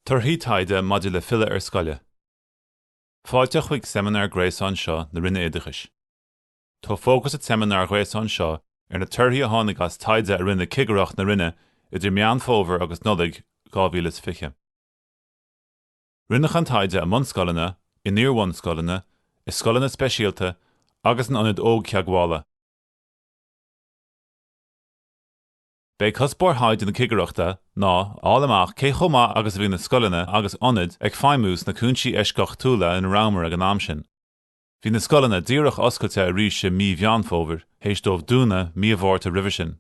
Torthaí taighde maidir le filleadh ar scoile. Fáilte chuig seimineár gréasáin seo na Roinne Oideachais. Tá fócas an tseimineáir ghréasáin seo ar na torthaí a tháinig as taighde a rinne Cigireacht na Roinne idir Meán Fómhair agus Nollaig 2020. Rinneadh an taighde i mbunscoileanna, in iar-bhunscoileanna, i scoileanna speisialta agus in ionaid Ógtheagmhála. Ba é cuspóir thaighde na cigireachta ná a fháil amach cé chomh maith agus a bhí na scoileanna agus ionaid ag feidhmiú sna cúinsí eisceachtúla ina rabhamar ag an am sin. Bhí na scoileanna díreach oscailte arís i mí Mheán Fómhair, th'éis dóibh dúnadh mí an Mhárta roimhe sin.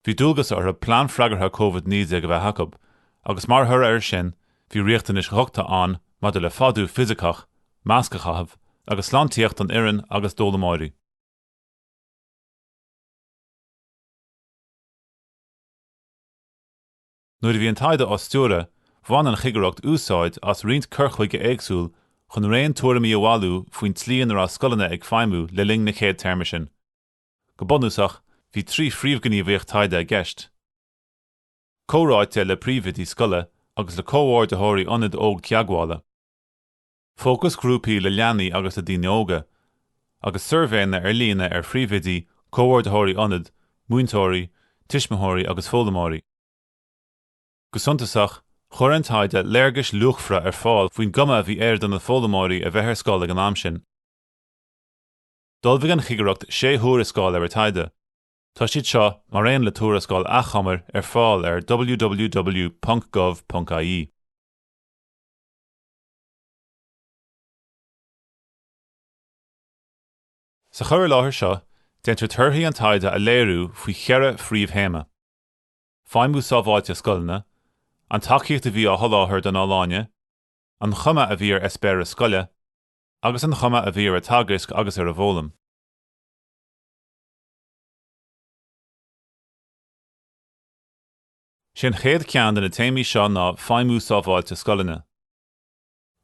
Bhí dualgas orthu plean freagartha Covid-19 a bheith acu, agus mar thoradh air sin, bhí riachtanais dhochta ann maidir le fadú fisiceach, masc a chaitheamh, agus sláintíocht don fhoireann agus d'fhoghlaimeoirí. Nuair a bhí an taighde á stiúradh, bhain an Chigireacht úsáid as roinnt cur chuige éagsúil chun raon tuairimí a bhailiú faoin tslí ina raibh scoileanna ag feidhmiú le linn an chéad téarma sin. Go bunúsach, bhí trí phríomhghníomhaíocht taighde i gceist, comhráite le príomhoidí scoile agus le comhordaitheoirí ionad ógtheagmhála, fócasghrúpaí le leanaí agus le daoine óga, agus suirbhéanna ar líne ar phríomhoidí, comhordaitheoirí ionad, múinteoirí, tuismitheoirí agus foghlaimeoirí. Go suntasach, chuir an taighde léargais luachmhara ar fáil faoin gcuma a bhí air do na foghlaimeoirí a bheith ar scoil ag an am sin. D'ullmhaigh an Chigireacht sé thuarascáil ar an taighde. Tá siad seo, mar aon le tuarascáil achomair, ar fáil ar www.gov.ie. Sa chur i láthair seo, déantar torthaí an taighde a léiriú faoi cheithre phríomhthéama, feidhmiú sábháilte scoileanna, an tacaíocht a bhí á sholáthar don fholláine, an chuma a bhí ar eispéireas scoile, agus an chuma a bhí ar an teagasc agus ar an bhfoghlaim. Is é an chéad cheann de na téamaí seo ná feidhmiú sábháilte scoileanna.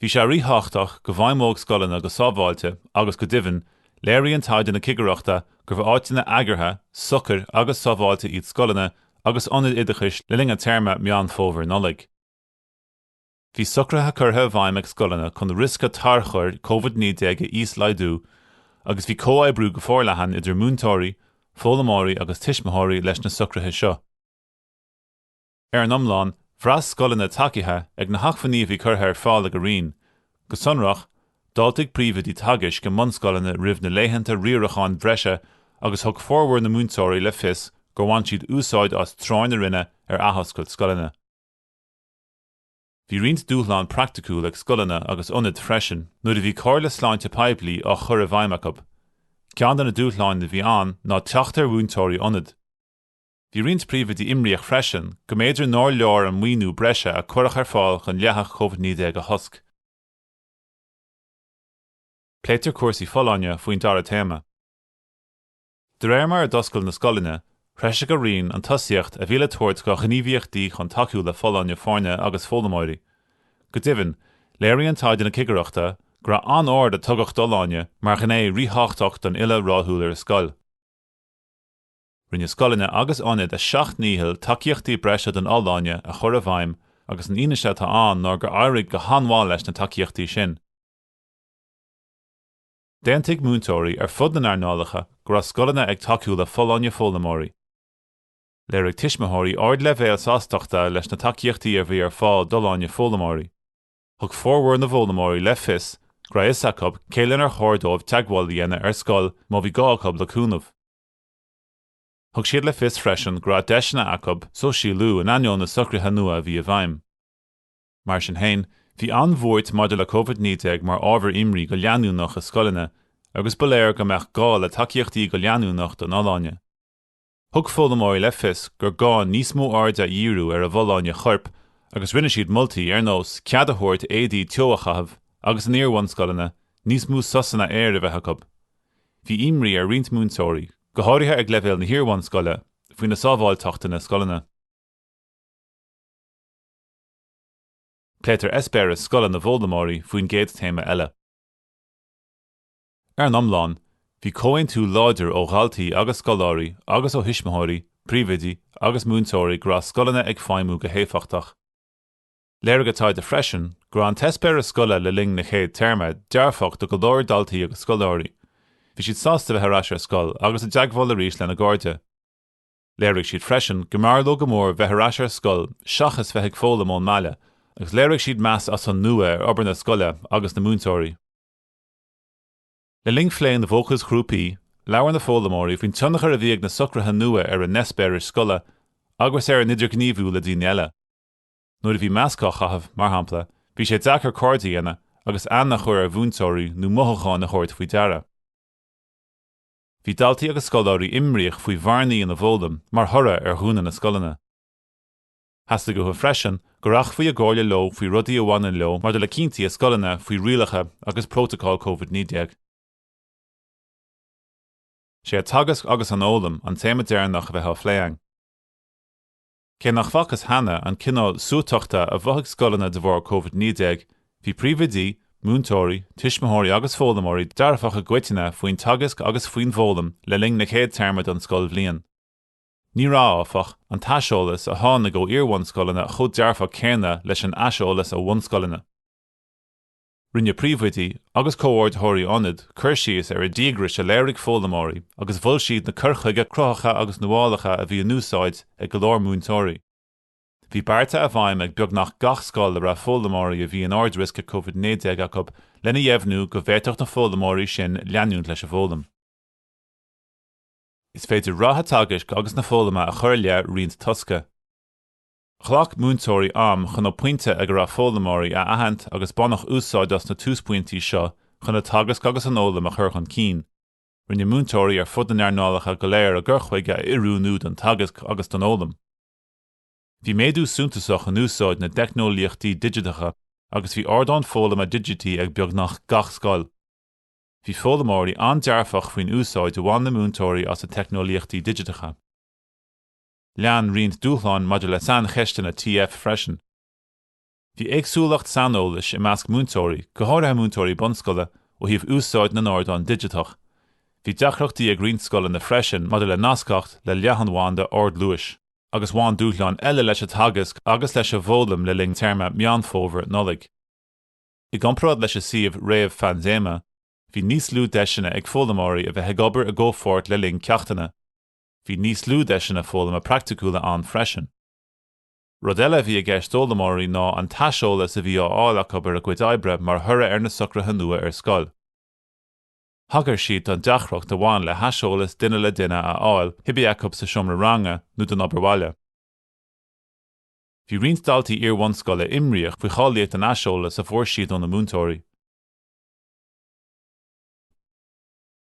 Bhí sé ríthábhachtach go bhfeidhmeodh scoileanna go sábháilte agus go deimhin, léiríonn taighde na cigireachta gurbh áiteanna eagraithe, socair agus sábháilte iad scoileanna agus ionaid oideachais le linn an téarma Meán Fómhair-Nollaig. Bhí socruithe curtha i bhfeidhm ag scoileanna chun riosca tarchuir Covid 19 a íoslaghdú agus bhí comhoibriú go forleathan idir múinteoirí, foghlaimeoirí agus tuismitheoirí leis na socruithe seo. Ar an iomlán, bhraith scoileanna tacaithe ag na hacmhainní a bhí curtha ar fáil ag an Roinn, go sonrach, d'fháiltigh príomhoidí teagaisc i mbunscoileanna roimh na laethanta riaracháin breise agus thug formhór na múinteoirí le fios gur bhain siad úsáid as treoir na Roinne ar athoscailt scoileanna. Bhí roinnt dúshlán praiticiúil ag scoileanna agus ionaid freisin nuair a bhí comhairle sláinte poiblí á chur i bhfeidhm acu. Ceann de na dúshláin a bhí ann ná teacht ar mhúinteoirí ionaid. Bhí roinnt príomhoidí imníoch freisin go mb'fhéidir nár leor an maoiniú breise a cuireadh ar fáil chun leathadh Covid-19 a chosc. Pléitear cúrsaí folláine faoin dara téama. De réir mar a d'oscail na scoileanna, threisigh an Roinn an tosaíocht a bhí le tabhairt do ghníomhaíochtaí chun tacú le folláine foirne agus foghlaimeoirí. Go deimhin, léiríonn taighde na Cigireachta go raibh an aird a tugadh d'fholláine mar ghné ríthábhachtach don fhilleadh rathúil ar scoil. Rinne scoileanna agus ionaid a seacht ndícheall tacaíochtaí breise don fholláine a chur i bhfeidhm agus an fhianaise atá ann ná gur éirigh go han-mhaith leis na tacaíochtaí sin. D'aontaigh múinteoirí ar fud na n-earnálacha go raibh scoileanna ag tacú le folláine foghlaimeoirí. Léirigh tuismitheoirí ardleibhéal sástachta leis na tacaíochtaí a bhí ar fáil d'fholláine foghlaimeoirí. Thug formhór na bhfoghlaimeoirí le fios go raibh fhios acu cé lenar chóir dóibh teagmháil a dhéanamh ar scoil má bhí gá acu le cúnamh. Thug siad le fios freisin go raibh deiseanna acu sóisialú in ainneoin na socruithe nua a bhí i bhfeidhm. Mar sin féin, bhí an bhuairt maidir le Covid-19 mar ábhar imní go leanúnach i scoileanna agus ba léir go mbeadh gá le tacaíochtaí go leanúnach don fholláine. Thug foghlaimeoirí le fios gur gá níos mó airde a dhíriú ar a bhfolláine choirp agus rinne siad moltaí ar nós cead a thabhairt éadaí teo a chaitheamh agus in iar-bhunscoileanna níos mó sosanna aeir a bheith acu. Bhí imní ar roinnt múinteoirí, go háirithe ag leibhéal na hiar-bhunscoile, faoina sábháilteacht ina scoileanna. Pléitear eispéireas scoile na bhfoghlaimeoirí faoin gcéad téama eile. Ar an iomlán, bhí comhaontú láidir ó dhaltaí agus scoláirí agus ó thuismitheoirí, príomhoidí agus múinteoirí go raibh scoileanna ag feidhmiú go héifeachtach. Léirigh an taighde freisin go raibh an t-eispéireas scoile le linn na chéad téarma dearfach do go leor daltaí agus scoláirí. Bhí siad sásta bheith ar ais ar scoil agus i dteagmháil arís lena gcairde. Léirigh siad freisin go mb'fhearr leo go mór bheith ar ais ar scoil seachas bheith ag foghlaim ón mbaile agus léirigh siad meas as an nua ar obair na scoile agus na múinteoirí. Le linn phlé na bhfócasghrúpaí, labhair na foghlaimeoirí faoin tionchar a bhí ag na socruithe nua ar a n-eispéiris scoile agus ar a n-idirghníomhú le daoine eile. Nuair a bhí masc á chaitheamh, mar shampla, bhí sé deacair cairde a dhéanamh agus aithne a chur ar mhúinteoirí nó mothúcháin a thabhairt faoi deara. Bhí daltaí agus scoláirí imríoch faoi bhearnaí ina bhfoghlaim mar thoradh ar dhúnadh na scoileanna. Theastaigh uathu freisin go rachfaí i gcomhairle leo faoi rudaí a bhaineann leo maidir le cinntí a scoileanna faoi rialacha agus prótacail Covid 19. Sé an teagasc agus an fhoghlaim an téama deireanach a bheidh á phlé againn. Cé nach bhfacthas cheana an cineál suaiteachta a mhothaigh scoileanna de bharr Covid-19, bhí príomhoidí, múinteoirí, tuismitheoirí agus foghlaimeoirí dearfach i gcoitinne faoin teagasc agus faoin bhfoghlaim le linn na chéad téarma den scoilbhliain. Ní raibh, áfach, an t-aiseolas a tháinig ó iar-bhunscoileanna chomh dearfach céanna leis an aiseolas ó bhunscoileanna. Rinne príomhoidí agus comhordaitheoirí ionaid cur síos ar an díograis a léirigh foghlaimeoirí agus mhol siad na cuir chuige cruthaitheacha agus nuálacha a bhí in úsáid ag go leor múinteoirí. Bhí bearta i bhfeidhm ag beagnach gach scoil a raibh foghlaimeoirí a bhí in ardriosca Covid-19 acu lena dheimhniú go bhféadfadh na foghlaimeoirí sin leanúint leis an bhfoghlaim. Is féidir rath an teagaisc agus na foghlama a chur i leith roinnt tosca. Ghlac múinteoirí am chun an pointe ag a raibh foghlaimeoirí a aithint agus baineadh úsáid as na túspointí seo chun an teagasc agus an fhoghlaim a chur chun cinn. Rinne múinteoirí ar fud na n-earnálacha go léir a gcur chuige a oiriúnú don teagasc agus don fhoghlaim. Bhí méadú suntasach in úsáid na dteicneolaíochtaí digiteacha agus bhí ardáin foghlama digití ag beagnach gach scoil. Bhí foghlaimeoirí an-dearfach faoin úsáid a bhain na múinteoirí as na teicneolaíochtaí digiteacha. Lean roinnt dúshlán maidir le saincheisteanna TF freisin. Bhí éagsúlacht saineolais i measc múinteoirí, go háirithe múinteoirí bunscoile, ó thaobh úsáid na n-ardán digiteach. Bhí deacrachtaí ag roinnt scoileanna freisin maidir le nascacht le leathanbhanda ardluais agus bhain dúshláin eile leis an teagasc agus leis an bhfoghlaim le linn téarma Meán Fómhair-Nollaig. I gcomparáid leis an suíomh réamh-phaindéime, bhí níos lú deiseanna ag foghlaimeoirí a bheith ag obair i gcomhpháirt le linn ceachtanna. Bhí níos lú deiseanna foghlama praiticiúla ann freisin. Rud eile a bhí i gceist d'fhoghlaimeoirí ná an t-aiseolas a bhí á fháil acu ar a gcuid oibre mar thoradh ar na socruithe nua ar scoil. Thagair siad don deacracht a bhain le haiseolas duine le duine a fháil, cibé acu sa seomra ranga nó don obair bhaile. Bhí roinnt daltaí iar-bhunscoile imníoch faoi cháilíocht an aiseolais a fuair siad óna múinteoirí.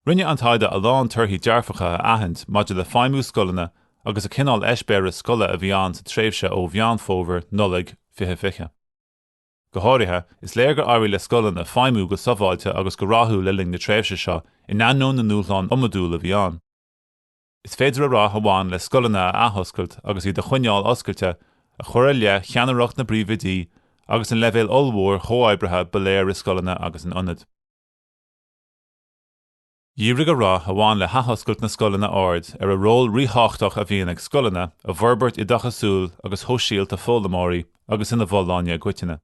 Rinne an taighde a lán torthaí dearfacha a aithint maidir le feidhmiú scoileanna agus an cineál eispéireas scoile a bhí ann sa tréimhse ó Mheán Fómhair, Nollaig 2020. Go háirithe, is léir gur éirigh le scoileanna feidhmiú go sábháilte agus go rathúil le linn na tréimhse seo in ainneoin na ndúshlán iomadúla a bhí ann. Is féidir an rath a bhain le scoileanna a athoscailt agus iad a choinneáil oscailte a chur i leith cheannaireacht na bpríomhoidí agus an leibhéal ollmhór chomhoibrithe ba léir i scoileanna agus in ionaid Dhírigh an rath a bhain le hathoscailt na scoileanna aird ar an ról ríthábhachtach a bhíonn ag scoileanna i bhforbairt oideachasúil agus shóisialta foghlaimeoirí agus ina bhfolláine i gcoitinne.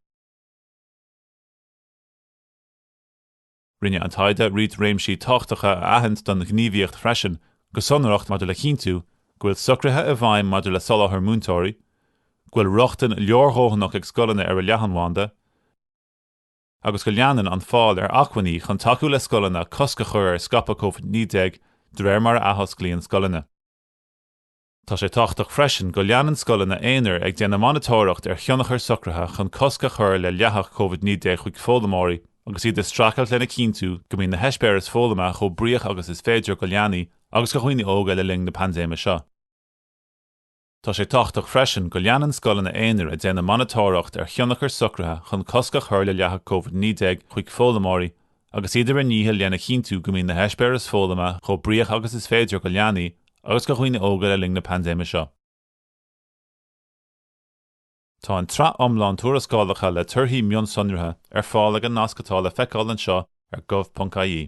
Rinne an taighde roinnt réimsí tábhachtacha a aithint don ghníomhaíocht freisin, go sonrach maidir le cinntiú go bhfuil socruithe i bhfeidhm maidir le soláthar múinteoirí, go bhfuil rochtain leordhóthanach ag scoileanna ar an leathanbhanda, agus go leanann an fáil ar acmhainní chun tacú le scoileanna cosc a chur ar scaipeadh COVID-19 de réir mar a athosclaíonn scoileanna. Tá sé tábhachtach freisin go leanann scoileanna aonair ag déanamh monatóireacht ar thionchar socruithe chun cosc a chur le leathadh COVID-19 chuig foghlaimeoirí agus iad ag streachailt lena chinntiú go mbíonn na heispéiris foghlama chomh bríoch agus is féidir do leanaí agus do dhaoine óga le linn na paindéime seo. Tá sé tábhachtach freisin go leanann scoileanna aonair ag déanamh monatóireacht ar thionchar socruithe chun cosc a chur le leathadh Covid 19 chuig foghlaimeoirí agus iad ar a ndícheall lena chinntiú go mbíonn na heispéiris foghlama chomh bríoch agus is féidir do leanaí agus do dhaoine óga le linn na paindéime seo. Tá an tsraith iomlán tuarascálacha le torthaí mionsonraithe ar fáil ag an nasc atá le feiceáil anseo ar gov.ie.